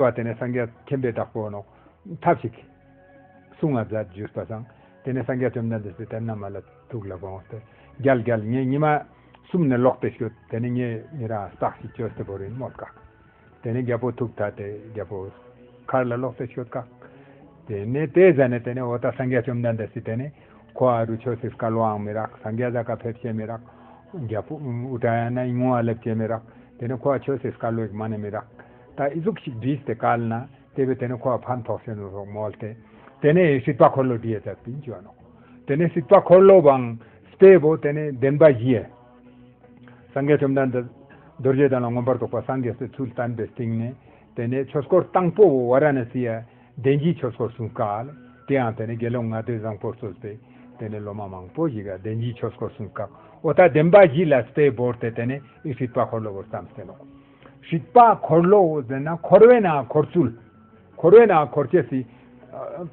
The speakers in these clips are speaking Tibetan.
བ་དེ་ནས་སངས་རྒྱས་མཁྱེན་པའི་བདག་པོ་ནོ། ཐབས་ཤེས་ཀྱིས། གསུང་ང་བཟའ་བརྗོད་པ་བཟང། དེ་ནས་སངས་རྒྱས་བཅོམ་ལྡན་འདས་སུ་དེར་ན་མ་ལ་ཐུགས་ལ་དགོངས་ཏེ། རྒྱལ་རྒྱལ་ངས་ཉི་མ་གསུམ་ནས་ལོག་སྟེ་བཞུད་དེ་ནས་ངས་ཉིད་རང་བསགས་ཤིང་སྤྱོད་སྲིད་པོ་རིན་མོ་བཀག། དེ་ནས་རྒྱལ་པོ་ཐུགས་ཐ་དད་རྒྱལ་པོ། མཁར་ལ་ལོག་སྟེ་བཞུད་བཀག། དེ་ནས་དེ་བཟའ་ནས་དེ་ནས་འོ་ད་སངས་རྒྱས་བཅོམ་ལྡན་འདས་སུ་དེ་ནས། ཁོ་ཨ་རུ་ཆོས་སྲིད་བཀའ་བློའང་མི་རག་སངས་རྒྱས་བཟའ་བཀའ་ཕེབས་བྱེད་མི་རག། རྒྱལ་པོ། ཨུཏྤ་ཡ་ན་ཡིག་ངོ་བ་ལེབ་བྱེད་མི་རག། དེ་ནས་ཁོ་ཨ་ཆོས་སྲིད་བཀའ་བློའི་མ་ནི་མི་རག། ད་ཨི་གཟུགས་ཤིག་བྲིས་ཏེ་བཀལ་ན་དེ་བས་དེ་ནས་འཁོར་བ་ཕམ་ཐོགས་སེ་ནོ་སོགས་མོལ་ཏེ། དེ་ནས་སྲིད་པ་འཁོར་ལོ་བྲི་ཡས་ཟབ་ཏིང་སྤྱོད་ནོ། དེ་ནས་སྲིད་པ་འཁོར་ལོ་བང་སྤེལ་བོ་དེ་ནས་བདེན་པ་བཞི་ཡས། སངས་རྒྱས་བཅོམ་ལྡན་འདས། རྡོ་རྗེ་དང་ལ་མངོན་པར་རྫོགས་པ་སངས་རྒྱས་སའི་ཚུལ་བསྟན་པའི་སྟེང་ནས། དེ་ནས་ཆོས་སྐོར་དང་པོ་བོ་ཝཱ་ར་ཎཱ་སི་ཡས། བདེན་བཞིའི་ཆོས་སྐོར་གསུངས་སྐད། དེ་ཡང་དེ་ནས་དགེ་སློང་ལྔ་བདོའི་བཟང་པོར་གསོལ་ཏེ། དེ་ནས་སློབ་མ་མང་པོ་ཞིག་གིས་བདེན་བཞིའི་ཆོས་སྐོར་གསུངས་སྐད། འོ་ད་བདེན་པ་བཞི་ལ་སྤེལ་བོར་ཏེ་དེ་ནས་ཨི་སྲིད་པ་འཁོར་ལོ་བོར་བརྩམས་ཏེ་ནོ། ཞིག་པ་འཁོར་ལོ་འོ་ཟེར་ན་འཁོར་བའི་ནང་འཁོར་ཚུལ། འཁོར་བའི་ནང་འཁོར་སྐྱེ་སྲིད།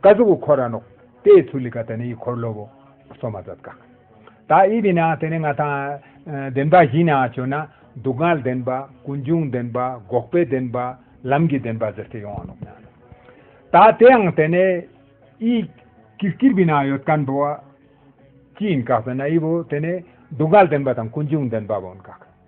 བཀའ་གཟུགས་ཀྱི་འཁོར་ར་ནོག། དེའི་ཚུལ་ལི་ཀ་དེ་ནི་ཡི་འཁོར་ལོ་བོ། སོ་མ་ཛད་ཀྵ། ད་ཨི་དེ་ན་དེ་ནི་ང་ཐང། བདེན་པ་བཞི་ན་བྱོན་ན། སྡུག་བསྔལ་བདེན་པ། ཀུན་འབྱུང་བདེན་པ། འགོག་པའི་བདེན་པ། ལམ་གྱི་བདེན་པ་ཟེར་ཏེ་ཡོང་བ་ནོག་ན། ད་དེའང་དེ་ནི། ཨི། ཀིར་ཀིར་བི་ན་ཡོད་ཀན་བོ། ཅི་ཡིན་ཀྵ་ཟེར་ན་ཨི་བོ་དེ་ནི། སྡུག་བསྔལ་བདེན་པ་དང་ཀུན་འབྱུང་བདེན་པ་བོ་ཀྵ།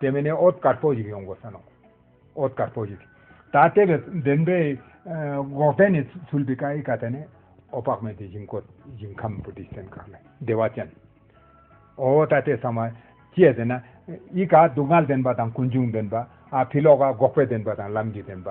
དེ་མིན་ནས་ཨོ་དཀར་པོ་ཞིག་ཡོང་དགོས་ས་ནོ། ཨོ་དཀར་པོ་ཞིག། ད་ལྟའི་བའི་བདེན་པའི་འགོག་རྟེན་ནས་ཚུལ་བི་ཀ་ཨི་ཀ་དེ་ནི་ཨོ་དཔག་མེད་དེ་ཞིང་བཀོད་ཞིང་ཁམས་བུ་དེའི་སེམས་ཁ་ལ་བདེ་བ་ཅན། ཨོ་ད་ལྟའི་ས་མ་སྐྱེས་དེ་ན་ཨི་ཀ་སྡུག་བསྔལ་བདེན་པ་དང་ཀུན་འབྱུང་བདེན་པ་ཨ་བྷི་ལོ་ཀ་འགོག་པའི་བདེན་པ་དང་ལམ་གྱི་བདེན་པ།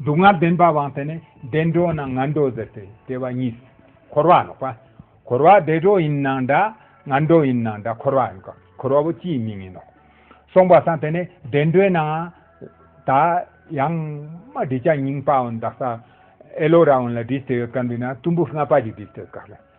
སྡུག་བསྔལ་བདེན་པ་དབང་དེ་ནི་བདེ་འགྲོ་ན་ང་འགྲོ་ཟེར་ཏེ་བྲལ་བ་གཉིས་སུ་འཁོར་བ་ལོག་པ། འཁོར་བ་བདེ་འགྲོ་ཡིན་ན་འདྲ་ང་འགྲོ་ཡིན་ན་འདྲ་འཁོར་བ་ཡིན་སྐབས་འཁོར་བ་པོ་ཅིས་མི་ངེས་ནོ། གསུངས་པ་སངས་དེ་ནི་བདེ་འགྲོའི་ནང་ད་ཡང་མ་བྲིས་ཅག་རྙིང་པའོ་འདག་ས་ཨེ་ལོ་ར་ཨོན་ལ་བྲིས་ཏེ་ཡོད་སྐབས་འདི་ན་གཏུམ་པོ་ལྔ་པ་ཅིག་བྲིས་ཏེ་ཡོད་སྐབས་ལ།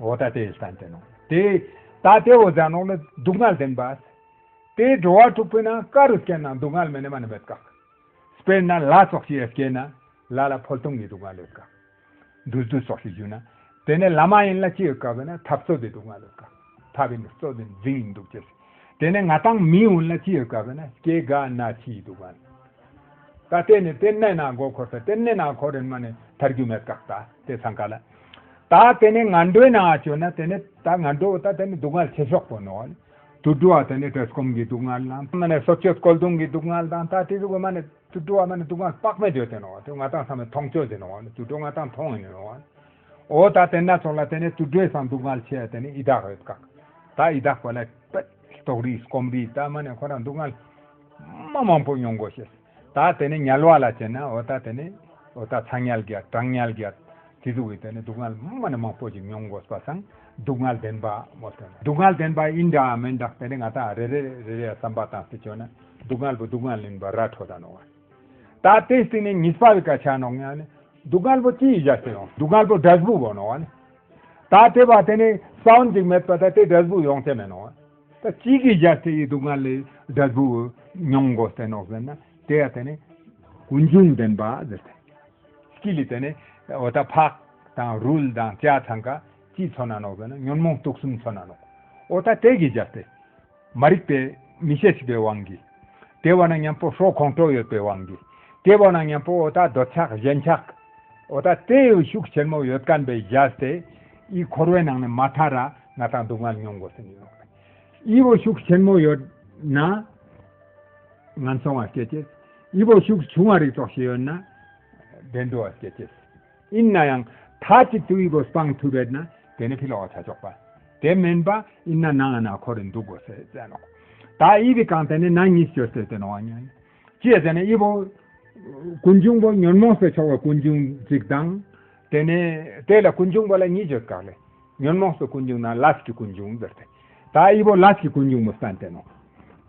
འོ་ད་དེ་ས་འདི་ནོ། དེ་ད་དེ་འོ་ཛ་ནོ་ལ་སྡུག་བསྔལ་ལྡན་པ། དེ་འགྲོ་བ་དྲུག་པོའི་ནང་ཀ་རུ་སྐྱེས་ན་སྡུག་བསྔལ་མེ་ནི་མ་ནི་མེད་དགག། དཔེར་ན་ལ་སོགས་ཀྱི་ཡས་སྐྱེས་ན་ལ་ལ་ཕོལ་དུམ་གྱི་སྡུག་བསྔལ་ཡོད་དགག། འདུལ་བདུལ་སོགས་ཀྱི་རྒྱུ་ན་དེ་ནི་ལ་མ་ཡིན་ལ་སྐྱེས་ཡོད་དགག་བས་ན་ཐབས་རྩོད་དེ་སྡུག་བསྔལ་ཡོད་དགག། ཐབས་ཡིན་ན་རྩོད་དེ་འཛིན་ཡིན་འདུག་ཅེས། དེ་ནི་ང་དང་མི་ཡོན་ལ་སྐྱེས་ཡོད་དགག་བས་ན་སྐྱེ་དགག་ན་ཕྱི་ཡི་སྡུག་བསྔལ། ད་དེ་ནི་དེ་གནས་ན་མགོ་འཁོར་ས་དེ་གནས་ན་འཁོར་རན་མ་ནི་ཐར་རྒྱུ་མེད་དགག་ད་དེ་ས་འགའ་ལ། ད་དེ་ནས་ང་འགྲོའི་ནང་བཅོས་ན་དེ་ནས་ད་ང་འགྲོ་ད་དེ་ནས་སྡུག་བསྔལ་ཆེ་ཤོག་པོ་ནོར། དུད་འགྲོ་བ་དེ་ནས་བྲེལ་སྐོམ་གྱི་སྡུག་བསྔལ་དང་མ་ནས་སོ་སྐྱོད་སྐོལ་རྡུང་གི་སྡུག་བསྔལ་དང་ད་དེ་ཚོ་མ་ནས་དུད་འགྲོ་བ་མ་ནས་སྡུག་བསྔལ་དཔག་མེད་བརྗོད་དེ་ནོར་དེ་ང་ད་ཚང་མས་མཐོང་བཅོས་དེ་ནོར་དུད་འགྲོ་ང་ད་མཐོང་ངེས་ནས་ནོར། འོ་ད་དེ་སྣ་ཚོགས་ལ་དེ་ནས་དུད་འགྲོའི་སང་སྡུག་བསྔལ་ཆེ་དེ་ནས་ཡི་དྭགས་རེད་བཀག་ད་ཡི་དྭགས་པ་ལ་དཔལ་ལྟོགས་རིས་སྐོམ་རིས་ད་མ་ནས་ཁོ་རང་སྡུག་བསྔལ་མ་མང་པོ་མྱོང་དགོས་ཞེས། ད་དེ་ནས་ཉལ་བ་ལ་བྱེད་ན་འོ་ད་དེ་ནས། འོ་ད་ཚ་ཉལ་རྒྱག་གྲང་ཉལ་རྒྱག། དེ་ཚོ་བས་དེ་ནས་སྡུག་བསྔལ་དམའ་ན་མང་པོ་ཞིག་མྱོང་དགོས་པ་སང་སྡུག་བསྔལ་ལྡན་པ། སྡུག་བསྔལ་ལྡན་པ་ཡིན་འདྲ་འམ་མིན་འདྲ་དེ་ནས་ང་ད་རེ་རེ་རེ་རེ་བསམ་པ་དང་སེ་བྱོ་ན་སྡུག་བསྔལ་བུ་སྡུག་བསྔལ་ལིན་པ་ར་འཕྲོ་ད་ནོ། ད་དེ་སྟེང་ནས་ཉིས་པ་བས་ཀ་ཆ་ནོག་ཉལ་ནས་སྡུག་བསྔལ་བུ་ཅི་ཡི་ཞག་སེ་ཡོང་སྡུག་བསྔལ་བུ་སྒྲ་ཟྦུག་བོ་ནོ་བ་ནི། ད་དེ་བ་དེ་ནས་སའོན་ཅིག་མེད་པ་ད་དེ་སྒྲ་ཟྦུག་ཡོང་ཆེ་མེད་ནོ་བ། ད་ཅིག་གིས་རྒྱ་ཆེ་ཡི་སྡུག་བསྔལ་ལས་སྒྲ་རྫོགས་མྱོང་དགོས་ཟེར་ནོ་ཟེར་ན་དེ་ཡང་དེ་ནི་ཀུན་འབྱུང་བདེན་པ་ཟེར་ཐལ། ཅིག་ལས་དེ་ནི་འོ་ད་ཕག་དང་རུལ་དང་བཅའ་ཚང་ག་ཅིས་ཚོར་ན་ནོག་ཟེར་ན་ཉོན་མོངས་དུག་གསུམ་ཚོར་ན་ནོག་འོ་ད་དེ་གིས་རྒྱ་ཆེ། མ་རིག་པའི་མི་ཤེས་ཤིག་པའི་དབང་གིས། དེ་བ་ན་མཉམ་པོ་ཧྲོག་ཁོང་ཁྲོ་ཡོད་པའི་དབང་གིས། དེ་བ་ན་མཉམ་པོ་འོ་ད་འདོད་ཆགས་གཞན་ཆགས། འོ་ད་དེའི་ཤུགས་ཆེན་མོ་ཡོད་དཀའ་བས་རྒྱ་ཆེ། ཡིད་འཁོར་བའི་ནང་ནས་མ་ཐར་ར། ང་དང་སྡུག་བསྔལ་མྱོང་དགོས་སེམས་ཡོད། དབྱི་བོ་ཤུགས་ཆེན་མོ་ཡོད་ན། ང་འཚོང་བ་སྐྱེད་ཅེས། དབྱི་བོ་ཤུགས་ཆུང་བ་རིགས་དོགས་ཤིག་ཡོད་ན། བདེ་འགྲོ་བ་སྐྱེད་ཅེས། ཡིན་ན་ཡང་ཐ་ཅིག་ཏུ་དབྱི་བོ་སྤང་ཐུབ་པས་ན་དེ་ནི་ཕི་ལོག་བྱ་ཆོག་པ། དེ་མིན་པ་ཡིན་ན་ནང་ན་ཁོ་རེ་འདུག་དགོས་སེ་བཙན་ནོ། ད་དབྱི་བི་གང་དེ་ནི་ན་ཉིས་སྤྱོད་སེ་དེ་ནོ་བ་ཉོན། ཅེས་དེ་ནས་དབྱི་པོ། ཀུན་འབྱུང་པོ་ཉོན་མོངས་སུ་ཕྱོགས་པ་ཀུན་འབྱུང་གཅིག་དང། དེ་ནས་དེ་ལ་ཀུན་འབྱུང་པོ་ལ་གཉིས་བརྗོད་དཀའ། ཉོན་མོངས་སུ་ཀུན་འབྱུང་ན་ལྀས་ཀྱི་ཀུན་འབྱུང་ཟེར་ཏེ། ད་དབྱི་པོ་ལྀས་ཀྱི་ཀུན་འབྱུང་པོ་བསྟན་ཏེ་ནོ།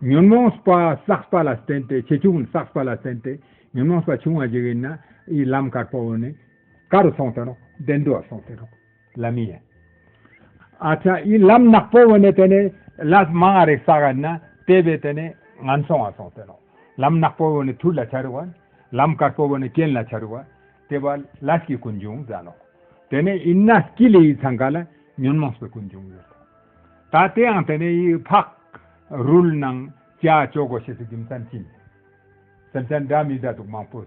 ཉོན་མོངས་པ་བསགས་པ་ལ་བརྟེན་ཏེ་ཆེ་ཆུང་བསགས་པ་ལ་བརྟེན་ཏེ་ཉོན་མོངས་པ་ཆུང་བ་ཞིག་ཡིན་ན་དབྱི་ལམ་དཀར་པོ་ནི་དཀར་རུ་སོང་སྟེ་ནོ་བདེ་འགྲོ་བར་སོང་སྟེ་ནོ། ལམ་ཡིན། ཨ་ཅག་ཡིན་ལམ་ནག་པོ་བོ་ནས་དེ་ནས་ལས་མང་ང་རེ་ས་ག་ན་དེ་བས་དེ་ནས་ངན་སོང་བ་སོང་དེ་ནོ། ལམ་ནག་པོ་བོ་ནས་ཐུར་ལ་ཆ་རུ་བ། ལམ་དཀར་པོ་བོ་ནས་སྐྱེན་ལ་ཆ་རུ་བ། དེ་བ་ལས་ཀྱི་ཀུན་འབྱུང་ཟ་ནོ། དེ་ནས་ཡིན་ན་སྐྱི་ལེ་ཡི་ཚང་ག་ལ་ཉོན་མོངས་པའི་ཀུན་འབྱུང་ཡོད་དོ། ད་དེ་ཡང་དེ་ནས་ཡི་ཕག་རུལ་ནང་ཅག་ཅོག་གོ་ཤེས་སུ་རྒྱུ་མཚན་ཅི་ཡིན། སེམས་ཅན་འདྲ་མི་འདྲ་འདུག་མང་པོ།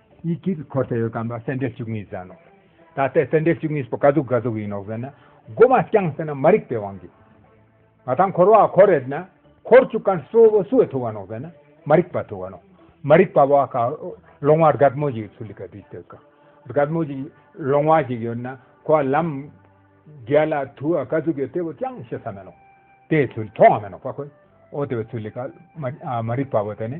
ཡིད་ཀྱི་དཀྱིལ་འཁོར་དེ་ཡོད་དམ་སེར་འབྲས་བཅུ་གཉིས་ཟེར་ནོ། ད་ལྟའི་སེར་འབྲས་བཅུ་གཉིས་པོ་ག་གཟུགས་ག་གཟུགས་ཡིན་ནོ་ཟེར་ན། སྒོ་མ་བརྐྱངས་ཟེར་ན་མ་རིག་པའི་དབང་གིས། ང་དང་འཁོར་བ་གོ་རེད་ན། འཁོར་བཅུ་ཀ་སོ་བོ་སུ་བས་ཐུ་བ་ནོ་ཟེར་ན། མ་རིག་པ་ཐུ་བ་ནོ། མ་རིག་པ་བ་ཀ་ལོང་བ་རྒད་མོ་ཞིག་ཚུ་ལི་ཀ་དུས་སྟོད་ཀ། རྒད་མོ་ཞིག་ལོང་བ་ཞིག་ཡོད་ན་ཁོ་བ་ལམ། རྒས་ལ་ཐུ་བ་ག་གཟུགས་ཡོད་དེ་བས་ཀྱང་ཤེས་ས་མེད་ནོ། དེའི་ཚུལ་མཐོང་བ་མེད་ནོ་བ་ཀོ། ཨོ་དེ་བས་ཚུ་ལི་ཀ་མ་རིག་པ་བ་དེ་ནི།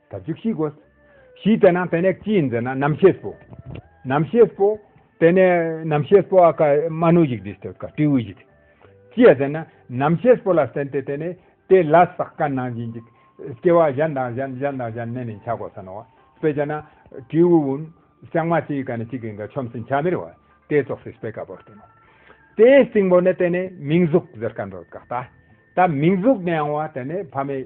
ད་བཅུ་གཤིས་དགོས། གཤིས་དེ་ན་དེ་ནས་ཅི་ཡིན་ཟེར་ན་རྣམ་ཤེས་སྤོ། རྣམ་ཤེས་སྤོ། དེ་ནས་རྣམ་ཤེས་སྤོ་བ་ཀ་རྨ་ནུ་ཞིག་དེ་སྟེ་ཀ་སྤྲེའུ་ཞིག་དེ། ཅི་ཡ་ཟེར་ན་རྣམ་ཤེས་སྤོ་ལ་བརྟེན་ཏེ་དེ་ནས་དེ་ལ་བསགས་པ་ནང་བཞིན་གྱི་སྐྱེ་བ་གཞན་དང་གཞན་གཞན་དང་གཞན་གནས་ནས་འཆར་དགོས་ས་ནོ། དཔེ་བྱས་ན། སྤྲེའུ་བུན། ལྕང་མ་གཅིག་གི་ཀ་ནས་གཅིག་གི་འགའ་ཆོམ་སྲིན་ཆ་མེར་བ། དེ་ཙོག་སྲིད་སྤེལ་ཀ་པོར་བརྟེན་ནོ། དེའི་སྟེང་པོ་ནས་དེ་ནས་མིང་གཟུགས་ཟེར་ཀ་འགྲོ་ཀ་ད། ད་མིང་གཟུགས་ནས་ཡང་བ་དེ་ནས་ཕ་མའི།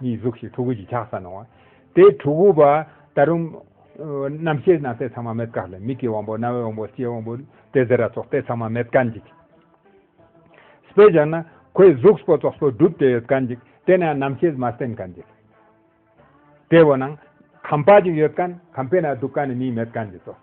གཉིས་གཟུགས་ཞེས་ཕྲུ་གུ་གཅིག་ཆགས་ས་ན། དེའི་ཕྲུ་གུ་པ། ད་རུང། རྣམ་ཤེས་སྣང་གསལ་ཚང་མ་མེད་དཀའ་ལས་མིག་གི་དབང་པོ་རྣ་བའི་དབང་པོ་ལྕེའི་དབང་པོ། དེ་ཟེར་ར་སོགས་དེ་ཚང་མ་མེད་དཀའ་འཇིག། སྤེལ་བཞག་ན། ཁོའི་གཟུགས་པོ་ཙོག་པོ་བསྒྲུབས་དེ་ཡོད་དཀའ་འཇིག་དེ་ནས་རྣམ་ཤེས་མ་སྟེན་དཀའ་འཇིག། དེ་བས་ན། ཁམས་དཔའ་ཅིག་ཡོད་དཀའ། ཁམས་དཔེ་ན་སྡུག་དཀའ་ནི་མིའི་མེད་དཀའ་འཇིག་སོགས།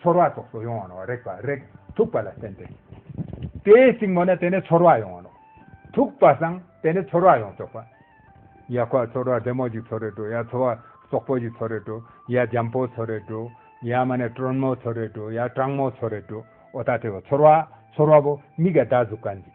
ཚོར་བ་སོགས་སུ་ཡོང་བ་ནོ། རེག་པ་རེག་ཐུག་པ་ལ་བརྟེན་ཏེ། དེའི་སྲིང་མོ་ནི་དེ་ནི་ཚོར་བ་ཡོང་བ་ནོ། ཐུག་པ་སང་དེ་ནི་ཚོར་བ་ཡོང་ཆོག་པ། ཡ་ཁོག་ཚོར་བ་བདེ་མོ་ཞིག་ཚོར་རེ་བྲོ་ཡ་ཚོར་བ་སོག་པོ་ཞིག་ཚོར་རེ་བྲོ་ཡ་འཇམ་པོ་ཚོར་རེ་བྲོ་ཡ་མ་ནི་ཏྲོན་མོ་ཚོར་རེ་བྲོ་ཡ་སྤྲང་མོ་ཚོར་རེ་བྲོ་ཨོ་ད་དེ་བ་ཚོར་བ་ཚོར་བ་བོ་མིག་ག་ད་གཟུགས་ཀ་འཇིག།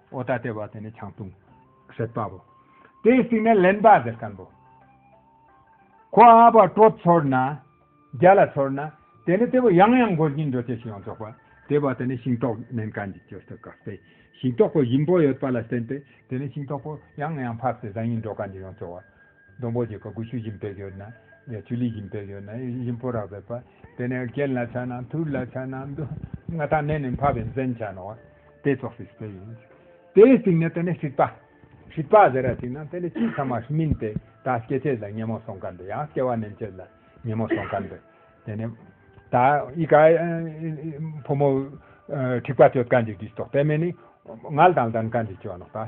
ཨོ་ད་ལྟེ་བ་དེ་ནི་ཆང་བཏུང། ཟེར་པ་བོ། དེ་གསིག་ན་ལེན་པ་ཟེར་ཀན་བོ། ཁོ་ཨ་བ་སྤྲོ་ཚོར་ན། རྒྱ་ལ་ཚོར་ན། དེ་ནི་ལྟེ་བ་ཡང་ཡང་འགོར་གྱིན་འགྲོ་ཅེས་ཤིག་ཡང་རྫོགས་པ། ལྟེ་བ་དེ་ནི་ཤིང་ཏོག་མན་ཀན་གྱི་སྐྱོ་སྟོད་གབ་སྟེ། ཤིང་ཏོག་པོ་བཞིན་པོ་ཡོད་པ་ལ་བརྟེན་ཏེ་དེ་ནི་ཤིང་ཏོག་པོ་ཡང་ཡང་ཕབ་སྟེ་བཟང་ཡིན་འགྲོ་ཀན་གྱི་ཡང་རྩོལ་བ། སྡོང་པོ་གྱི་ག་གུ་ཆུ་བཞིན་བེག་ཡོད་ན། ཆུ་ལི་བཞིན་བེག་ཡོད་ན་ཡིད་བཞིན་པོ་རག་བེག་པ། དེ་ནས་རྐན་ལ་ཕྱག་ན་ཐུར་ལ་ཕྱག་ན་མདུང། སྔ་དང་ནས་ནི་འཕགས་པའི་མཚན་ཕྱག་ན་བ། དེ་ཚོགས་སྲིད་པའི་ཡིན། དེའི་སྟེང་ནས་དེ་ནས་ཧྲིག་པ། ཧྲིག་པ་ཟེར་ར་ཅིག་ན་དེ་ནས་སྤྱིའི་ཚང་མ་སྨིན་ཏེ། ད་སྐྱེ་ཆད་ལ་ཉན་མོ་སོང་ག་འདི་ཡང་སྐྱེ་བ་ནན་ཆད་ལ་ཉན་མོ་སོང་ག་འདི། དེ་ནས། ད་ཡི་ག། ཕོ་མོ། ཧྲིག་པ་གཅོད་ག་འཇིག་འཇིག་ཏོག་དེ་མེ་ནི། ངལ་དང་ལྡན་ག་འཇིག་ཅེས་བ་ནོག་ད།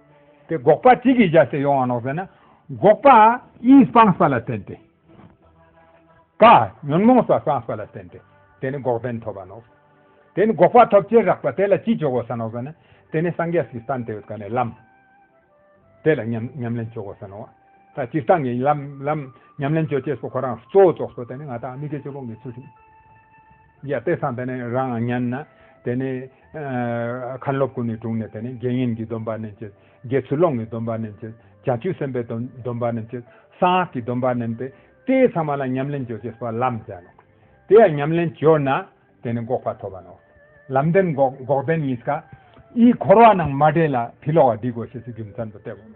དེ་དགོག་པ་ཅི་གིས་བཞག་ཟེར་ཡོང་བ་ནོག་ཟེར་ན། དགོག་པ་ཡིད་སྤངས་ས་ལ་བརྟེན་ཏེ། ཀ། ཉོན་མོངས་ས་སྤངས་ས་ལ་བརྟེན་ཏེ། དེ་ནི་འགོག་བདེན་ཐོབ་པ་ནོག། དེ་ནི་དགོག་པ་ཐོབ་ཅེས་རགས་པ་དེ་ལ་ཅི་འཇོག་གོ་ས་ནོག་ཟེར་ན། དེ་ནི་སངས་རྒྱས་ཀྱི་སྟན་དེ་བས་ཀ་ནས་ལམ། དེ་ལ་ཉམས་ལེན་བྱོས་གོ་ས་ནོག། ད་སྤྱིར་བཏང་གི་ལམ་ཉམས་ལེན་བྱོས་ཅེས་སོགས་ཁོ་རང་གཙོ་བོ་རྫོགས་སོ་དེ་ནི་ང་དང་ཨ་མི་ཀའི་སྤྱི་བོ་ངས་ཚུལ་ཁྲིམས། རྒྱལ་བསྟན་བསམ་པས་ནི་རང་ངམ་ཉམས་ན། དེ་ནས། མཁའ་འགྲོ་ཀུན་ནས་དྲུང་ནས་དེ་ནས་དགེ་བསྙེན་གྱི་སྡོམ་པ་རྣམས་བསྐྱེད། དགེ་ཚུལ་སློང་ངའི་སྡོམ་པ་རྣམས་བསྐྱེད། བྱང་ཆུབ་སེམས་དཔའི་སྡོམ་པ་རྣམས་བསྐྱེད། གསང་སྔགས་ཀྱི་སྡོམ་པ་རྣམས་ཏེ། དེའི་ཚང་མ་ལ་ཉམས་ལེན་བརྗོད་ཅེས་པ་ལམ་བཟླས་ལོ། དེ་ཡང་ཉམས་ལེན་བརྗོད་ན། དེ་ནས་འགོག་པ་ཐོབ་པ་ནོ། ལམ་བདེན་འགོག་འགོག་བདེན་གཉིས་ཀ། དབྱིག་འཁོར་བ་རྣམས་མ་འདྲེས་ལ། དེ་ལོགས་བ་སྡིག་གོ་ཞེས་སུ་རྒྱུ་མཚན་དུ་བསྟན།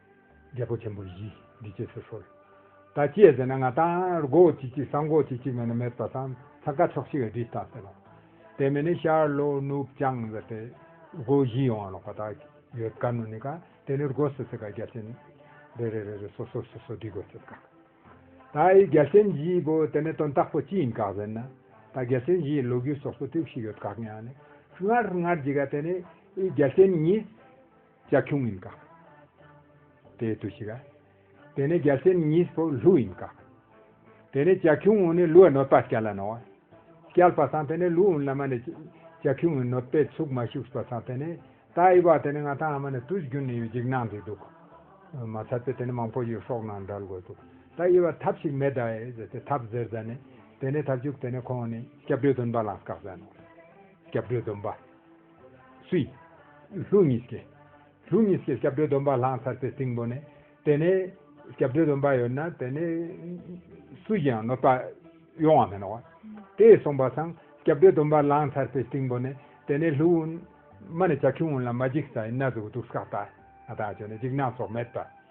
རྒྱལ་པོ་ཆེན་པོ་བཞིས་འདི་སྐྱེས་སུ་གསོལ། ད་སྐྱེས་ཟེར་ན་ང་ད་སྒོ་ཅིག་གཅིག་སང་སྒོ་ཅིག་གཅིག་མེད་ན་མེད་པ་སང་ཚ་ཀ་ཆོག་ཤི་བའི་དྲི་ལྟ་ཟེར་རོ། དེ་མིན་ནི་ཤར་ལྷོ་ནུབ་བྱང་ཟེར་ཏེ། སྒོ་བཞི་ཡོང་བ་ལོག་པ་དག་ཡོད་དཀའ་ནོ་ནི་ཀ་དེ་ནི་སྒོ་སོ་སོའི་ཀ་རྒྱལ་ཆེན། རེ་རེ་རེ་རེ་སོ་སོར་སོ་སོར་འདྲི་དགོས་ཚོད་དཀའ། ད་ཡི་རྒྱལ་ཆེན་བཞིའི་སྒོ་དེ་ནི་དོན་དག་པོ་ཅི་ཡིན་དགག་ཟེར་ན། ད་རྒྱལ་ཆེན་བཞིའི་ལོ་རྒྱུས་སོ་སོ་ཏུག་ཤི་ཡོད་དགག་ཡང་ནི། སྔར་སྔར་གྱི་ཀ་དེ་ནི་ཡི་རྒྱལ་ཆེན་ཉིད། ལྕགས་ཁྱུང་ཡིན་ཀ། དེ་ཡི་དུས་ཤིག་ཨ། དེ་ནས་རྒྱལ་སྲས་གཉིས་པོ་ལྷུ་ཡིན་ཀ། དེ་ནས་ལྕགས་ཁྱུང་ངོ་ནས་ལུས་གནོད་པ་སྐྱལ་ལ་ནོ། སྐྱལ་པ་དང་དེ་ནས་ལུས་བླ་མ་ནས་ལྕགས་ཁྱུང་ངོས་གནོད་པའི་ཚུགས་མ་ཞུགས་པ་དང་དེ་ནས་ད་ཨེ་བ་དེ་ནས་ང་དང་ཨ་མ་ནས་དུས་རྒྱུན་ནས་ཡོད་འཇིགས་སྣང་འདི་འདུག། མ་ཚར་པས་དེ་ནས་མང་པོ་ཡོད་སོགས་ནང་འདྲ་ལ་གོ་འདུག་ད་ཨེ་བ་ཐབས་ཤིག་མེད་ད་ཨེ་ཟེར་ཏེ་ཐབས་ཟེར་ཟ་ནས་དེ་ནས་ཐབས་བྱུགས་དེ་ནས་ཁོང་ནས་སྐྱབས་འགྲོའི་སྡོམ་པ་ལ་བཀག་ཟ་ནོ། སྐྱབས་འགྲོའི་སྡོམ་པ། སུའི། ལྷུ་ཉི་སྐྱེས། ལྷུ་ཉི་སྐྱེས་སྐྱབས་འགྲོའི་སྡོམ་པ་བླངས་ཚར་ཚེ་སྟེང་པོ་ནས། དེ་ནས། སྐྱབས་འགྲོའི་སྡོམ་པ་ཡོད་ན་དེ་ནས། སུ་ཡིའང་གནོད་པ། ཡོང་བ་མི་རུང་བ། དེས་གསུངས་པ་དང། སྐྱབས་འགྲོའི་སྡོམ་པ་བླངས་ཚར་ཚེ་སྟེང་པོ་ནས། དེ་ནས་ལྷུ། མ་ནས་བྱ་ཁྱུང་ལ་མ་འཇིགས་ས་ཡི་ན་ཟུག་སྡུག་བསགས་པ། ཨ་ཐང་ཆོད་ན་འཇིགས་སྣང་སོགས་མེད་པ།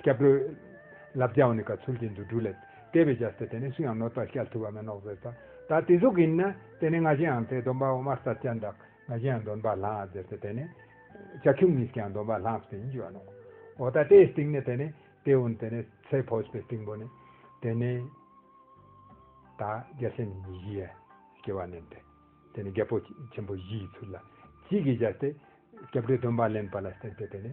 སྐྱབས་འགྲོའི། ལབ་བརྒྱའོ་ནི་ཀ་ཚུལ་གྱི་འདུ་འཕྲོ་ལས། ལྟེ་བའི་རྒྱ་སྟེ་དེ་ནི་སུ་ཡང་ནོར་ལྟར་ཤལ་ཐུབ་པ་མེད་ནོག་ཟེར་ས། ད་དེ་གཟུགས་ཡིན་ན། དེ་ནི་ང་བཞིན་ཡང་ཚེ་སྡོམ་པའོ་དམར་ས་སྐྱ་འདག། ང་བཞིན་ཡང་འདོན་པ་ལྷང་ཟེར་ས་དེ་ནི། བྱ་ཁྱུང་གཉིས་ཀྱང་འདོན་པ་ལྷང་ཟེར་གྱི་བ་ནོག། འོ་ད་ལྟེའི་སྟེང་ནི་དེ་ནི། ལྟེའོ་ནི་དེ་ནི་ཚེ་ཕོས་པའི་སྟེང་པོ་ནི། དེ་ནི། ད་རྒྱ་ཆེན་ནི་ཉི་བཞི་ཡས་ཀྱི་བ་ནི། དེ་ནི་རྒྱལ་པོ་ཆེན་པོ་བཞི་ཡི་ཚུལ་ལ། གཅིག་གི་རྒྱ་སྟེ། སྐྱབས་འགྲོའི་སྡོམ་པ་ལེན་པ་ལ་བརྟེན་ཏེ་དེ་ནི།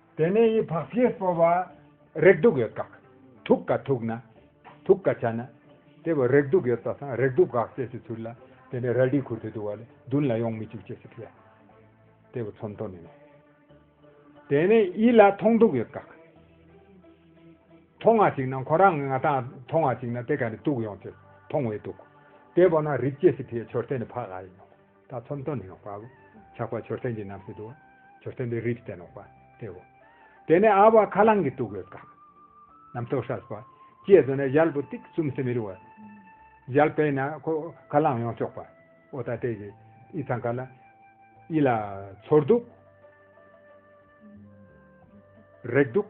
དེ་ནས་ཡི་བག་ཕྱིར་སྤོ་བ། རེག་དུག་ཡོད་དགག། དུག་དཀའ་དུག་ན། དུག་དཀའ་བྱ་ན། དེ་བས་རེག་དུག་ཡོད་དག་དང་རེག་དུག་དགག་ཅེས་སུ་ཚུར་ལ། དེ་ནས་རལ་གྲིས་ཁུར་ཏེ་འདུག་བ་ལས་མདུན་ལ་ཡོང་མི་བཅུག་ཅེས་སུ་བྱ། དེ་བས་ཚོམ་ཐོ་ནི་ནི། དེ་ནས་ཡིད་ལ་མཐོང་དུག་ཡོད་དགག། མཐོང་བ་ཅིག་ན་ཁོ་རང་ངེ་ང་དང་མཐོང་བ་ཅིག་ན་དེ་ག་ནས་དུག་ཡོང་ཅེས་མཐོང་བའི་དུག། དེ་བས་ན་རིག་ཅེས་སུ་བྱའི་མཆོར་དེ་ནི་བག་ཨ་ཡིན་ནོ། ཐ་ཚོམ་སྟོན་ནུས་པའོ། ཆགས་པ་མཆོད་རྟེན་གྱི་རྣམ་ཤེས་དུའོ། མཆོད་རྟེན་པའི་རིགས་བསྟན་ནོག་པ་སྟེའོ། དེ་ནས་ཨ་བ་ཁ་རླངས་ཀྱི་སྟུག་པོའི་སྐག། རྣམ་རྟོག་ཧྲཱི་སྤ། ཅེས་སོ་ནས་ཞལ་བུ་ཏིག་གསུམ་སེ་མི་རུ་བ། ཞལ་པད་ན་ཁོ། ཁ་རླངས་ཡོངས་གཅོག་པ། ཨོ་ད་ཏའི་གི། ཨི་ཚང་ཀ་ལ། ཨི་ལ། ཚོར་དུག། རེག་དུག།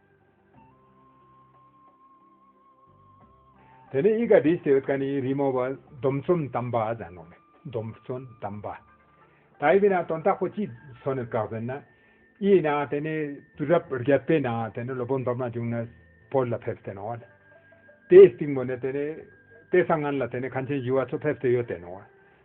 དེ་ནས་ཨི་ཀ་བི་སེ་ཨུད་ཀ་ནི་རི་མོ་བ་སྡོམ་བརྩོན་དམ་པ་ཟ་ནོ་མེ་སྡོམ་བརྩོན་དམ་པ། ད་ཡི་བི་ན་དོན་དག་པོ་ཅི་སོ་ནི་བཀག་བེ་ན། ཨི་ཡི་ན་དེ་ནི་དུས་རབས་རྒྱ་དཔེ་ན་དེ་ནི་ལོ་བོ་འདོམ་ན་འབྱུང་ན་བོད་ལ་ཕེབས་ཏེ་ནོ། དེ་ཡི་སྟིང་བོ་ནི་དེ་ནི་དེ་སང་ངན་ལ་དེ་ནི་ཁ་མཆན་ཞུ་བ་ཚོ་ཕེབས་ཏེ་ཡོད་དེ་ནོ།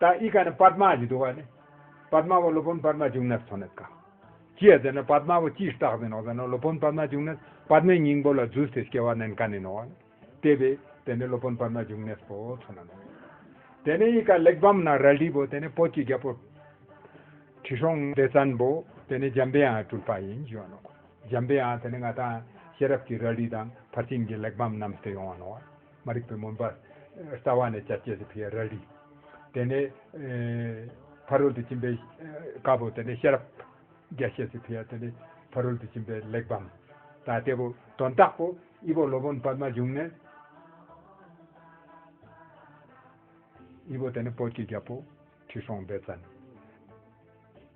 ཏཱ་ཨི་ཀ་ནི་པདྨ་ཀྱི་བསྡུ་བ་ནི། པདྨ་བ་སློབ་དཔོན་པདྨ་འབྱུང་གནས་སུ་འཚོ་གནས་དཀའ། ཅེས་བརྫད་ན་པདྨ་བ་ཅིས་བཏགས་ཟིན་ནོ་ཟེར་ན་སློབ་དཔོན་པདྨ་འབྱུང་གནས་པདྨའི་སྙིང་པོ་ལ་རྫུས་ཏེ་སྐྱེ་བ་ནན་དཀའ་ནས་ནོ། དེ་བས་དེ་ནི་སློབ་དཔོན་པདྨ་འབྱུང་གནས་སུ་འཚོ་གནས་ནོ། དེ་ནས་ཨི་ཀ་གླེགས་བམ་ན་རལ་གྲི་བོ་དེ་ནི་བོད་ཀྱི་རྒྱལ་པོ། ཁྲི་སྲོང་ལྡེ་བཙན་པོ་དེ་ནི་འཇམ་པའི་ཨང་སྤྲུལ་པ་ཡིན་ཞེས་བ་ནོ། འཇམ་པའི་ཨང་དེ་ནི་མངའ་ཐང་ཤེས་རབ་ཀྱི་རལ་གྲི་དང་ཕར་ཕྱིན་གྱི་གླེགས་བམ་རྣམས་སུ་ཡོང་བ་ནོ། མ་རིག་པའི་མུན་པ། རྩ་བ་ནས་བཅད་བཅད་དེ་ཕི་རལ་རིག། དེ་ནས། ཕ་རོལ་ཏུ་ཕྱིན་པའི། དཀར་པོ་དེ་ནས་ཤེས་རབ། རྒྱ་ཤེས་སུ་ཕི་ཡ་དེ་ནས། ཕ་རོལ་ཏུ་ཕྱིན་པའི་གླེགས་བམ། ད་ལྟའི་བུ། དོན་རྟགས་པོ། དབྱི་བོ་སློབ་དཔོན་པདྨ་འབྱུང་གནས། དབྱི་བོ་དེ་ནས་བོད་ཀྱི་རྒྱལ་པོ། ཁྲི་སྲོང་ལྡེ་བཙན།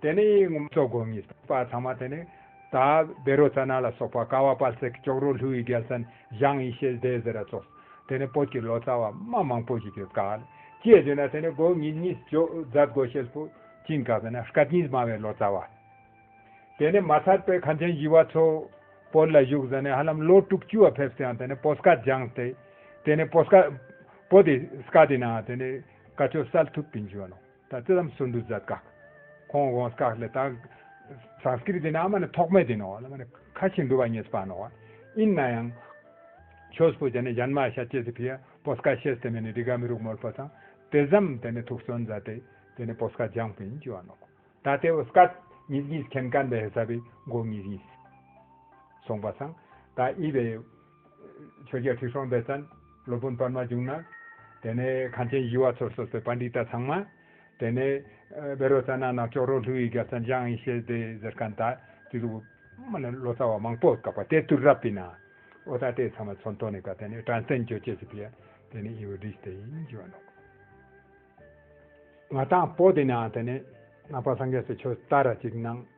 དེ་ནས་ཡིག་ངོ་མཚོ་སྒོ་ངའི་བར་ཚང་མ་དེ་ནས། ད་བེ་རོ་ཙ་ན་ལ་སོགས་པ་ཀ་བ་པཱལ་སེ་ཀི་ཅོག་རོ་ལྷུ་ཡི་རྒྱལ་སན་ཞང་ཡི་ཤེལ་སྡེ་ཟེ་ར་ཙོགས། དེ་ནས་བོད་ཀྱི་ལོ་ཙཱ་བ་དམའ་མང་པོ་ཞིག་ཡོད་ཀཱལ། ཅེས་བརྗོད་ན་དེ་ནས་སྒོ་ངའི་གཉིས་སྦྱོ་རྫ་སྒོ་ཤེལ་སྤུ་ཅིང་ཀ་བེ་ན་ཤཀ་གཉིས་དམའ་བའི་ལོ་ཙཱ་བ། དེ་ནས་མ་ཚར་པའི་ཁ་མཆན་བཞི་བ་ཚོ། བོད་ལ་བཞུགས་ཟ་ནས་ཧ་ལམ་ལོ་དྲུག་བཅུ་བ་ཕེབས་སུ་ཡང་དེ་ནས་པོ་སྐ་ལྗང་སྟེ། དེ་ནས་པོ་སྐ། པོ་དེ་སྐ་དེ་ནའང་དེ་ནས་ཀ་ཅོ་སལ་ཐུབ་ཏིང་བཞུགས་ཡོད་ནོ། ད་ཙི་རམ་སུན་དུ་ཛད་ཀག་ཁོང་དགོངས་ཀག་ལེ་ད། Sanskrit དེ་ནི་ཨ་མ་ནི་ཐོག་མེད་དེ་ནོ་ཨ་མ་ནི་ཁ་ཆེ་འདུ་བ་ཉེས་པ་ནོ། ཨིན་ན་ཡང། ཆོས་པོ་ཅན་ནི་ཡན་མ་ཤ་ཅེས་ཟི་བྷི་ཡ་པོ་སྐ་ཤེས་དེ་མེ་ནི་རི་ག་མི་རུག་མོལ་པོ་ཚང་དེ་ཟམ་དེ་ནི་ཐུགས་སོན་ཛ་དེ་དེ་ནི་པོ་སྐ་ལྗང་པོ་ཡིན་ཅི་བ་ནོ། ད་དེ་བོ་སྐ་ཉིས་གཉིས་ཁེན་ཀན་པའི་ཧེ་ས་བི་མགོ་ཉིས་གཉིས། སོང་པ་ཚང་ད་ཨི་བའི། ཆོས་རྒྱལ་ཁྲི་སྲོང་ལྡེ་བཙན་སློབ་དཔོན་པདྨ་འབྱུང་ན། དེ་ནས་གངས་ཅན་བཞི་བ་ཚོར་གསོལ་བའི་པཱ་འདི་ཏཱ་ཚང་མ། དེ་ནས་བེ་རོ་ཙཱ་ན་ནག་ཅོག་རོ་ལྷུ་ཡི་རྒྱལ་ཚ་འཇང་ཡི་ཤེས་ལྡེ་གཟེར་ཀ་འདའ། དེ་ལུགས་སྨྲ་ནས་ལོ་ཙཱ་བ་མང་པོ་བཀག་པ་དེ་དུར་རབ་པི་ན། ཨོ་ད་ཏའི་ཚང་མ་ཚོ་མདོ་ནས་བཀག་དེ་ནས་བྲམ་ཟེ་མགྱོད་ཅེས་བྱས་པས། དེ་ནས་ཨི་བོ་དིས་དེ་ཡིན་བགྱི་བ་ནོ། ང་དང་པོ་དེ་ནའང་དེ་ནས་ནང་པ་སངས་རྒྱས་སུ་ཆོས་བལྟ་ར་གཅིག་གནང།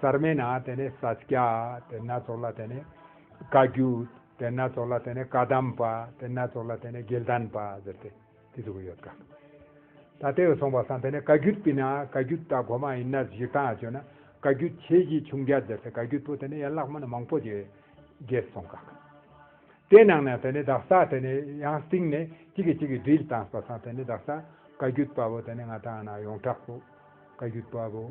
གསར་མའི་ནང་དེ་ནས་ས་སྐྱ་དེ་སྣ་ཚོགས་ལ་དེ་ནས་བཀའ་རྒྱུད་དེ་སྣ་ཚོགས་ལ་དེ་ནས་བཀའ་གདམས་པ་དེ་སྣ་ཚོགས་ལ་དེ་ནས་དགེ་ལྡན་པ་ཟེར་ཏེ་དེ་ཚུགས་ཀྱི་ཡོད་གམ། ད་དེ་ཡོད་སོང་པ་སང་དེ་ནས་བཀའ་རྒྱུད་སྤིན་ན་བཀའ་རྒྱུད་ད་གོ་མ་ཡིན་ན་གཞིག་དང་བཅོས་ན་བཀའ་རྒྱུད་ཆེ་བཞི་ཆུང་བརྒྱ་ཟེར་ཏེ་བཀའ་རྒྱུད་པོ་དེ་ནས་ཡན་ལག་མ་ནི་མང་པོ་ཞིག་རྒྱས་སོང་གམ། དེ་ནང་ནས་དེ་ནས་བདག་ས་དེ་ནས་ཡང་སྟིང་ནས་གཅིག་གིས་གཅིག་གིས་དྲིལ་དང་པ་སང་དེ་ནས་བདག་ས་བཀའ་རྒྱུད་པ་པོ་དེ་ནས་ང་དང་ན་ཡོངས་གྲགས་པོ་བཀའ་རྒྱུད་པ་པོ།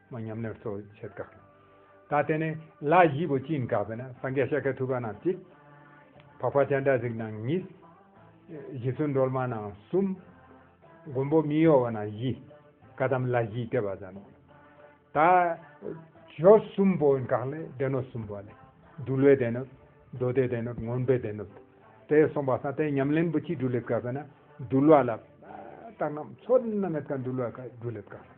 མོ་ཉམས་ལེན་གཙོ་བོ་བྱེད་དཀའ། ད་དེ་ནས་ལ་བཞི་པོ་བཅིངས་དཀའ་བས་ན་སངས་རྒྱས་ཤཱཀྱ་ཐུབ་པ་རྣམས་གཅིག། འཕགས་པ་སྤྱན་སྒྲ་གཟིགས་རྣམས་གཉིས། བཞི་བརྩོན་སྒྲོལ་མ་རྣམས་གསུམ། མགོན་པོ་མི་གཡོ་བ་རྣམས་བཞི། བཀའ་གདམས་ལ་བཞིའི་ལྟེ་བ་བརྩམས། ད་གཞོ་གསུམ་པོ་འགགས་ལས་སྡེ་སྣོད་གསུམ་པོ་ལས། འདུལ་བའི་སྡེ་སྣོད། མདོ་སྡེའི་སྡེ་སྣོད་ངོམ་པའི་སྡེ་སྣོད། དེ་གསུངས་པ་སངས་རྟས་ཉམས་ལེན་པོ་གཅིག་བསྒྲུབ་ལེ་དཀའ་བས་ན་འདུལ་བ་ལ། རྟགས་རྣམས་ཚོགས་རྣམས་མེད་དཀའ་འདུལ་བ་དཀའ་བསྒྲུབ་ལེ་དཀའ།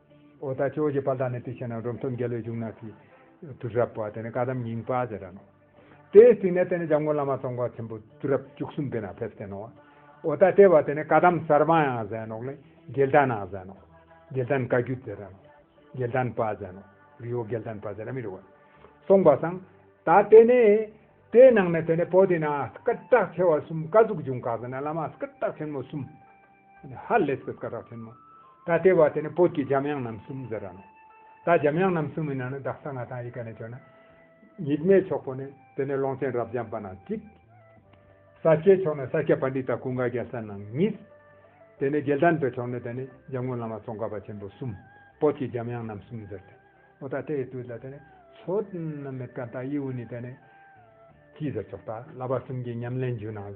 ཨོ་ད་ཅོ་ཞེས་པ་ལ་ནི་དེ་བྱས་ན་རུབ་མཐོ་འགལ་བའི་གཞུང་ན་ཚིག། དུར་ཧྲབ་བ་དེ་ནི་བཀའ་གདམས་རྙིང་པ་ཞེས་བྱ། དེའི་ཚིག་ནི་དེ་ནི་འཇམ་མགོན་བླ་མ་ཚོགས་མཁར་ཆེན་པོ་དུར་ཧྲབ་བཅུ་གསུམ་པའི་ནང་ཕེབས་སྟེ་ནོ། ཨོ་ད་ཏྲེ་བ་དེ་ནི་བཀའ་གདམས་གསར་པ་ཡང་ཟེར་ནོ། རྒྱལ་དར་ནང་ཟེར་ནོ། རྒྱལ་དར་བཀའ་བརྒྱུད་ཟེར་ར་ནོ། རྒྱལ་དར་པ་ཟེར་ནོ། རི་བོ་རྒྱལ་དར་པ་ཟེར་ར་མི་རི་བ། གསུངས་པ་སངས། ད་དེ་ནི། དེའི་ནང་ནས་དེ་ནི་པོ་ཏི་ན་སྐུ་བཀྲག་ཆེ་བ་གསུམ་བཀའ་ཟུག་བྱུང་བཀག་ཟིན་ན་བླ་མ་སྐུ་བཀྲག་ཆེན་མོ་གསུམ། ཧ་ལས་སོ་ཀ་ར་ཐོན་མོ། ད་ལྟའི་བར་དེ་ནི་བོད་ཀྱི་འཇམ་དབྱངས་རྣམ་གསུམ་ཟེར་ར་མོ། ད་འཇམ་དབྱངས་རྣམ་གསུམ་མི་ནང་ནས་བདག་ས་ང་དང་ཡི་ག་ནས་བྱོན་ན། ཉིད་མའི་ཕྱོགས་པོ་ནི་དེ་ནས་ཀློང་ཆེན་རབ་འབྱམས་པ་ན་གཅིག། ས་སྐྱའི་ཕྱོགས་ནས་ས་སྐྱ་པ་འདི་དང་ཀུན་དགའ་རྒྱལ་ས་ནང་གཉིས། དེ་ནས་རྒྱལ་དར་འདི་ཕྱོགས་ནས་དེ་ནི་འཇམ་མགོན་བླ་མ་ཙོང་ཁ་པ་ཆེན་པོ་གསུམ། བོད་ཀྱི་འཇམ་དབྱངས་རྣམ་གསུམ་ཟེར་ཏེ། འོ་ད་དེའི་དུས་ལ་དེ་ནི་ཚོ། མི་ཀ་ད་ཡིའུ་ནི་དེ་ནི། གྱིས་ཟེར་ཆོག་ད་བླ་པ་གསུམ་གྱི་ཉམས་ལེན་བརྒྱུད་ནང།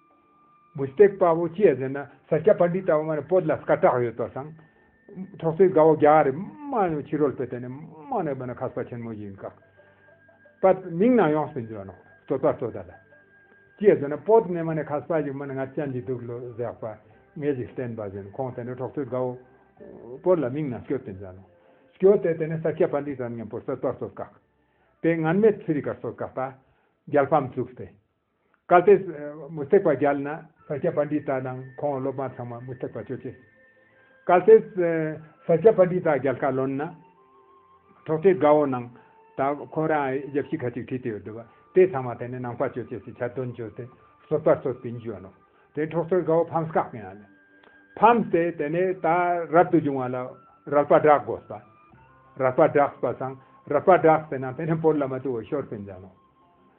མུ་སྟེགས་དཔའ་བོ་ཁྱེད་ཟེར་ན་ས་སྐྱ་པར་འབྲི་ལྟ་བུ་མ་རེད་པོད་ལ་སྐ་བཀྲག་ཡོད་དོ་སང། ཐོག་ཚེ་དགའ་བོ་རྒྱ་གར་དམག་ཡང་ཕྱི་རོལ་པོད་དེ་ནས་དམག་ནས་བོད་ན་ཁ་ས་ཆེན་མོ་ཡིན་ཀག། པ་མིང་ན་ཡོངས་སུ་འཇོན་ནོ་ཙོ་ཙ་ཙོ་ད་ལ། ཁྱེད་ཟེར་ན་པོད་ནས་མ་ནས་ཁ་ས་ཞིག་མ་ནས་ང་ཅན་གྱི་དུག་ལོ་ཟེགས་པ་ངས་ཞིག་བསྟན་པ་བཞིན་ཁོང་དེ་ནས་ཐོག་ཚེ་དགའ་བོ། པོད་ལ་མིང་ན་སྐྱོ་དེ་འཇོན་ནོ། སྐྱོ་དེ་དེ་ནས་ས་སྐྱ་པར་འབྲི་ཙམ་ཉན་པོད་ཙོ་ཙོ་ཙོ་ཀག། པེད་ངན་མེད་ཚུ་རི་ཀར་ཙོ་ཀག་པ། རྒྱལ་ཕམ་བཙུགས་ཏེ། བཀའ་སྩལ། མུ་སྟེགས་པ་བརྒྱལ་ན་ས་སྐྱ་པ་འདི་དག་དང་ཁོང་སློབ་མ་ཚང་མ་མུ་སྟེགས་པ་ཁྱོད་ཅེས། བཀའ་སྩལ། ས་སྐྱ་པ་འདི་དག་རྒྱལ་ཁ་ལོན་ན། ཐོག་ཁྲའི་དགའ་བོ་ནང་ད་ཁོ་རང་རྒྱབ་ཤི་ཁ་ཅིག་ཁྲིད་དེ་ཡོད་འདུག་དེ་ཚང་མ་དེ་ནས་ནང་པ་ཁྱོད་ཅེས་ཞེས་བྱ་དོན་བརྗོད་དེ་སོ་པར་སོ་སྟེ་འཇུས་ནོ། དེ་ནས་ཐོག་ཁྲའི་དགའ་བོ་ཕམ་སྐག་ཡང་ལས། ཕམ་སྟེ་དེ་ནས་ད་རབ་ཏུ་བྱུང་བ་ལ་རལ་པ་བསྒྲག་དགོས་པ། རལ་པ་བསྒྲགས་པ་སང་རལ་པ་བསྒྲགས་ཟེར་ན་དེ་ནས་བོར་ལ་མ་ཏུ་བོ་ཤོར་པའི་འཇང་ནོ།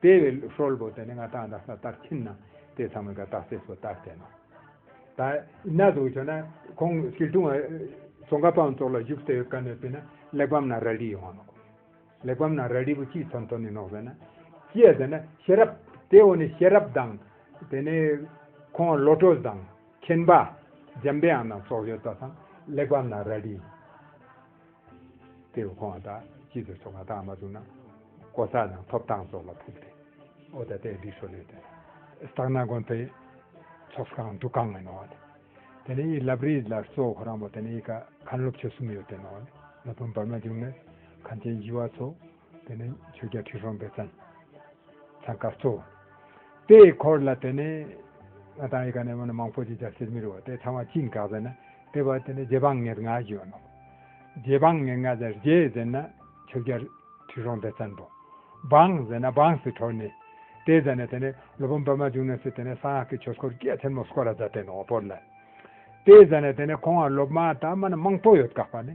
དེ་བས་ཧྲོལ་པོ་དེ་ནི་ང་ཐང་དང་ས་ལྟར་ཁྱིམ་ན་དེ་ཚང་མའི་གདགས་སྲས་སུ་ལྟར་བསྟན་ནོ། ད་ན་དུ་བྱོན་ན་ཁོང་སྐྱིལ་ཀྲུང་བ་ཙོང་ཁ་པའང་ཙོག་ལ་བཞུགས་ཟེར་བའི་བཀའ་ནོད་པས་ན་གླེགས་བམ་ན་རལ་གྲི་ཡོང་བ་ནོག། གླེགས་བམ་ན་རལ་གྲི་བུ་གཅིག་ཚོམ་ཐོག་ནས་ནོག་པས་ན། ཅེས་ཟེར་ན་ཤེས་རབ། དེ་འོག་ནས་ཤེས་རབ་དང། དེ་ནས་ཁོང་བློ་གྲོས་དང། མཁྱེན་པ། འཇམ་དཔལ་ཨང་དང་སྲོག་གཅོད་རྩ་ཚང་གླེགས་བམ་ན་རལ་གྲི། དེ་བས་ཁོ་བ་དང་སྐྱིད་དུ་སོང་བ་དག་མ་བཙུགས་ན། ཀོ་ས་རྣམས་ཐོབ་ཐང་སོགས་ལ་ཕུག་སྟེ། ཨོ་ད་ལྟའི་སྒྲིག་སྲོལ་ལས་དོན། སྟག་སྣ་དགོན་དེ་ཚོགས་ཁང་འདུ་ཁང་ངས་ནོར་བ་དེ། དེ་ནས་ཡིད་ལབ་རིས་ལ་གཙོ་བོ་ཁོ་རང་མོ་དེ་ནས་ཡིད་ཁ་ཁང་སློབ་ཆོས་གསུམ་ཡོད་དེ་ནོར་ནས་ལ་བུན་འབར་མ་བྱུང་ནས་གངས་ཅན་བཞི་བ་ཚོ། དེ་ནས་ཆོས་རྒྱལ་ཁྲི་སྲོང་ལྡེ་བཙན་འཚང་ཁ་གཙོ་བོ། དེ་ཡི་འཁོར་ལ་དེ་ནས་ང་དང་ཡི་ག་ནས་མི་མང་པོ་ཅིག་ཇག་སྲིད་མི་རུ་བ་དེ་ཚང་བ་གཅིག་འགག་ཟེར་ན་དེ་བ་དེ་ནས་རྗེ་འབངས་ངེད་ལྔ་བཞུད་ནོ། རྗེ་འབངས་ངེད་ལྔ་ཟེར་རྗེ་ཟེར་ན་ཆོས་རྒྱལ་ཁྲི་སྲོང་ལྡེ་བཙན་པོ། འབངས་ཟེར་ན་འབངས་སི་ཁྲོ་ནི། དེ་ཟེར་ནས་དེ་ནས་ལོ་བུམ་པདྨ་འབྱུང་གནས་སུ་དེ་ནས་གསང་སྔགས་ཀྱི་ཆོས་སྐོར་སྐད་ཆེན་མོ་སྐོར་ར་བཟའ་དེ་ནོ་བོར་ལ། དེ་ཟེར་ནས་དེ་ནས་ཁོང་བ་སློབ་མ་དང་མི་མང་པོ་ཡོད་དགག་པ་ནི།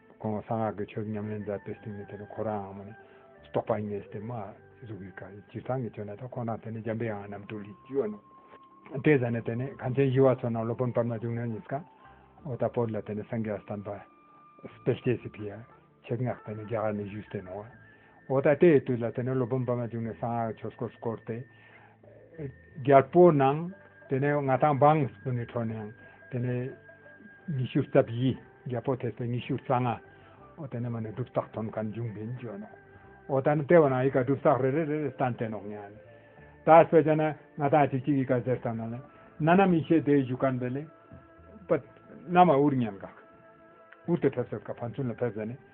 ཁོང་གསང་སྔགས་ཀྱི་ཆོས་ཉམས་ལེན་མཛད་པའི་སྟེང་ནས་དེ་ནི་ཁོ་རང་ངོ་ནས་རྟོགས་པ་ངེས་ཏེ་མ་གཟུགས་ཀྱི་ཁར་སྤྱིར་བཏང་གི་ཆོས་ནི་དང་ཁོང་དང་དེ་ནས་འཇམ་པའི་ཨང་རྣམས་དུ་ལི་ཇི་ཨོ་ནོ་ཏའི་ཟན་ནི་དེ་ནི་གངས་ཅན་བཞི་བ་ཚོ་ནང་སློབ་དཔོན་པདྨ་འབྱུང་གནས་ཉིད་ཀ་ཨོ་ཏཱ་པོ་ལ་དེ་ནི་སངས་རྒྱས་སྟོན་པ་སྤེལ་སྐྱེས་སི་ཕི་ཡ་ཆེག་སྔགས་དེ་ནི་རྒྱ་གར་ནས་བཞུགས་སྟེ་ནོ་བ། འོ་ད་དེའི་དུས་ལ་དེ་ནས་སློབ་དཔོན་པདྨ་འབྱུང་གནས་གསང་སྔགས་ཆོས་སྐོར་བསྐོར་ཏེ། རྒྱལ་པོ་གནང། དེ་ནས་ང་ཐང་འབངས་སུ་ནི་འཕྲོ་གནང། དེ་ནས། ཉི་ཤུ་རྩ་བཞི། རྒྱལ་པོ་དེ་སྲས་ཉི་ཤུ་རྩ་ལྔ། འོ་དེ་ནས་མ་ནི་སྒྲུབ་རྟགས་དོན་གང་འབྱུང་བིན་བརྗོད་ནོ། འོ་ད་ནི་ལྟེ་བ་ན་ཡི་ག་སྒྲུབ་རྟགས་རེ་རེ་རེ་རེ་སྟན་བསྟན་ནོ་སྙམ། ད་སྤེལ་བྱ་ན། ང་ཐང་གཅིག་གཅིག་ཡི་ག་ཟེར་ཙམ་ན་ལེ། ན་ནམ་ཡེ་ཤེས་དེའི་གཞུག་གར་འབེལ། པདྨ་འུར་སྙམ་འགགས། འུར་དེ་ཕེབས་ཟེར་སྐབས་ཕར་ཚུན་ལ་ཕེབས་ཟེར་ནས།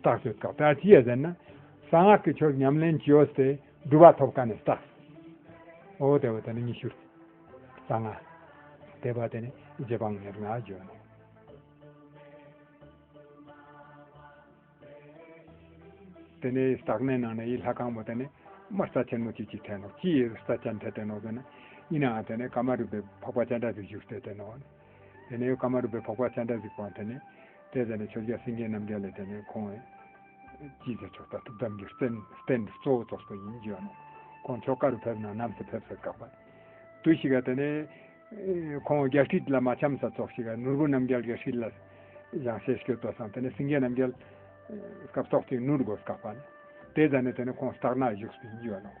རྟགས་སུ་རྟོག་པ་ཅི་ཡོད་ཟེར་ན། གསང་སྔགས་ཀྱི་ཆོས་ཉམས་ལེན་ཅི་ཡོད་དེ་སྒྲུབ་པ་ཐོབ་ཀ་ནས་རྟགས་སུ། འོ་དེ་བས་དེ་ནི་ཉི་ཤུར་རྩ་ལྔ། དེ་བས་དེ་ནི་རྗེ་འབངས་ཉེར་ལྔར་བརྗོད་ནས། དེ་ནས་རྟགས་སྣའི་ནང་ནས་ཡིད་ལྷ་གང་བོ་དེ་ནི་དམར་རྩ་ཆེན་མོ་གཅིག་གཅིག་ཐལ་ནོ། ཅི་ཡི་རྩ་ཅན་དེ་དེ་ནོ་ཟེར་ན། ཡིན་ནའང་དེ་ནི་ཀ་མ་རུ་པའི་འཕགས་པ་སྤྱན་དྲངས་སུ་བཞུགས་ཏེ་དེ་ནོ། དེ་ནས་ཀ་མ་རུ་པའི་འཕགས་པ་སྤྱན་དྲངས་གཟིགས་པའང་དེ་ནས། དེས་དེ་ནས་ཆོས་རྒྱལ་སེང་གེ་རྣམ་རྒྱལ་ལས་དེ་ནས་ཁོང་བས། ཅི་ཟེར་ཆོག་ལྟ་ཐུབ་གདམས་རྒྱུད་བསྟན་འགྲོ་གཙོ་བོ་ཚོགས་གཙོ་ཡིན་བརྗོད་རུང། ཁོང་མཆོག་བཀའ་རུ་ཕེབས་ན་ནམ་ཟད་ཕེབས་སར་དགག་པ། དུ་ཞིག་ག་དེ་ནས། ཁོང་རྒྱལ་ཁྲིད་ལ་མ་འཆམ་ས་ཚོགས་ཞིག་ག་ནོར་བུ་རྣམ་རྒྱལ་རྒྱལ་ཁྲིད་ལ། ཡང་ཤེས་སྐྱོ་བསྟོད་སང་དེ་ནས་སེང་གེ་རྣམ་རྒྱལ། སྐབས་ཏོག་ཅིག་ནུར་དགོས་སྐག་པ། དེས་ད་ནས་དེ་ནས་ཁོང་སྟག་སྣ་བཞུགས་སུ་ཡིན་བརྗོད་རུང།